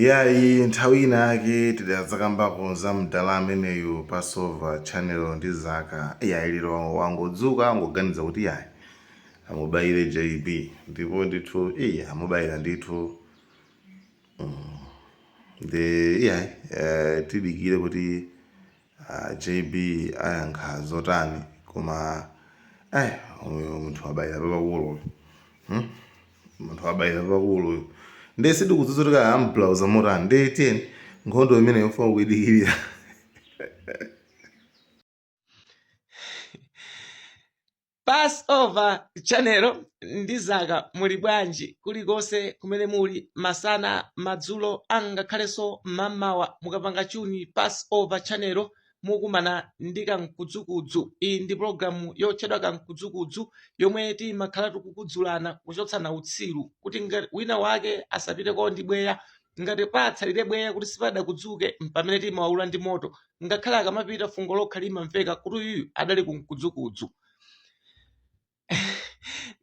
Iyayi nthawi ina yake tidadzakambako za mdala ameneyu Passover channel ndi Zaka iyayi lero wangodzuka wangoganiza kuti iyayi amubayire JB ndipo ndithu ii amubayira ndithu mm nde iyayi tidikire kuti A JB ayankha zotani koma eh uyu munthu wabayira papakulu uyu hmm? munthu wabayira papakulu uyu ndiye sindikudziwa kuti kaya amplauza motani ndiye tiyeni nkhondo imene yofuna kuidikirira Passover Channel ndi zaka muli bwanji kulikonse kumene muli masana madzulo angakhalenso mamawa mukapanga chuni Passover Channel mukumana ndi kamkudzukudzu iyi ndi pologalamu yotchedwa kamkudzukudzu yomwe timakhala tikukudzulana kuchotsana utsiru kuti ngati wina wake asapiteko ndi bweya ngati patsalire bweya kuti sipadakudzuke mpamene timawaula ndi moto ngakhale akamapita fungo lokha limamveka kuti uyuyu adali kumkudzukudzu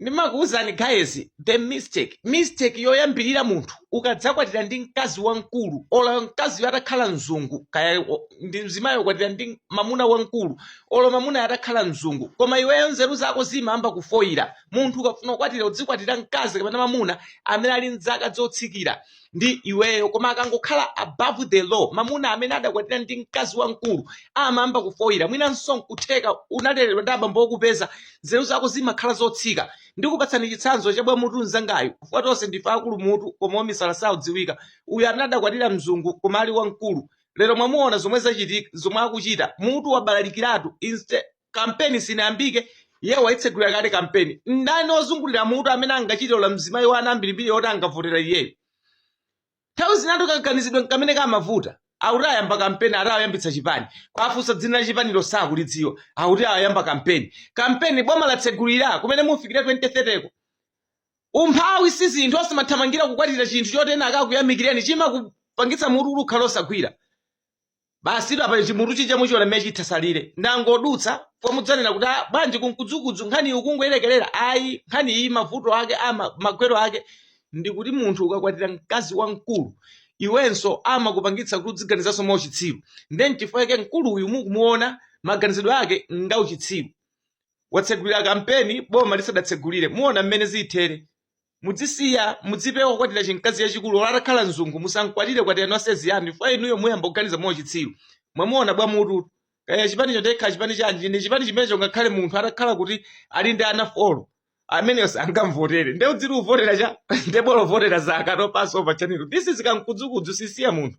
ndimakuwuzani guys the mistake mistake yoyambirira munthu ukadzakwatira ndi mkazi wamkulu olo mkaziyo atakhala mzungu kaya ndi mzimayi ukwatira ndi mamuna wamkulu olo mamunayo atakhala mzungu koma iweyo nzeru zako zimayamba kufoyira munthu ukafuna kukwatira udzikwatira mkazi kapena mamuna amene ali mzaka zotsikira ndi iweyo koma akangokhala above the law mamuna amene adakwatira ndi mkazi wamkulu amayamba kufoyira mwinanso nkutheka unaleredwa ndi abambo okupeza nzeru zako zimakhala zotsika ndikupatsani chitsanzo cha bwamutu mzangayu chifukwa tonse ndife akulu mutu koma omisala saudziwika uyu amene adakwatira mzungu koma ali wamkulu lero mwamuona zomwe zachitika zomwe akuchita mutu wabalalikiratu instead kampeni sinayambike iye waitsegulira kale kampeni ndani ozungulira mutu amene angachite olo mzimayi wa ana ambirimbiri oti angavotere iyeyo nthawi zinatu kaganizidwe nkamene kamavuta akuti ayamba kampeni ati ayambitsa chipani kwafunsa dzina la chipanilo sakulidziwa akuti ayamba kampeni kampeni boma latsegulira kumene mufikire 2030 ko umphawi si zinthu osamathamangira kukwatira chinthu choti ena akakuyamikireni chimakupangitsa mutuwo kukhala osagwira Basitu apa chimutu chija muchiona mmene chitatsalire. Ndangodutsa pomwe mudzanena kuti "Ah, bwanji kumkudzukudzu nkhani iyi ukungoyerekerera ayi nkhani iyi mavuto ake ama magwero ake ndikuti munthu ukakwatira mkazi wamkulu iwenso amakupangitsa kuti udziganizanso mwa uchitsiru ndiye nchifukwa chake mkulu uyu mukumuona maganizidwe ake nga uchitsiru watsegulira kampeni boma lisadatsegulire muona mmene zithere mudzisiya mudzipewa kukwatira chimkazi chachikulu olo atakhala mzungu musamkwatire kwatirani wasezi yanu chifukwa inuyo muyamba kuganiza mwa uchitsiru mwamuona bwa mutu kaya chipani chodekha chipani chanji chine chipani chimenecho ngakhale munthu atakhala kuti ali ndi ana folo ameneyo sangamvotere nde udzidzivotera cha nde bolo votera za akato paso pa chanelo this is kamkudzukudzu sisiya munthu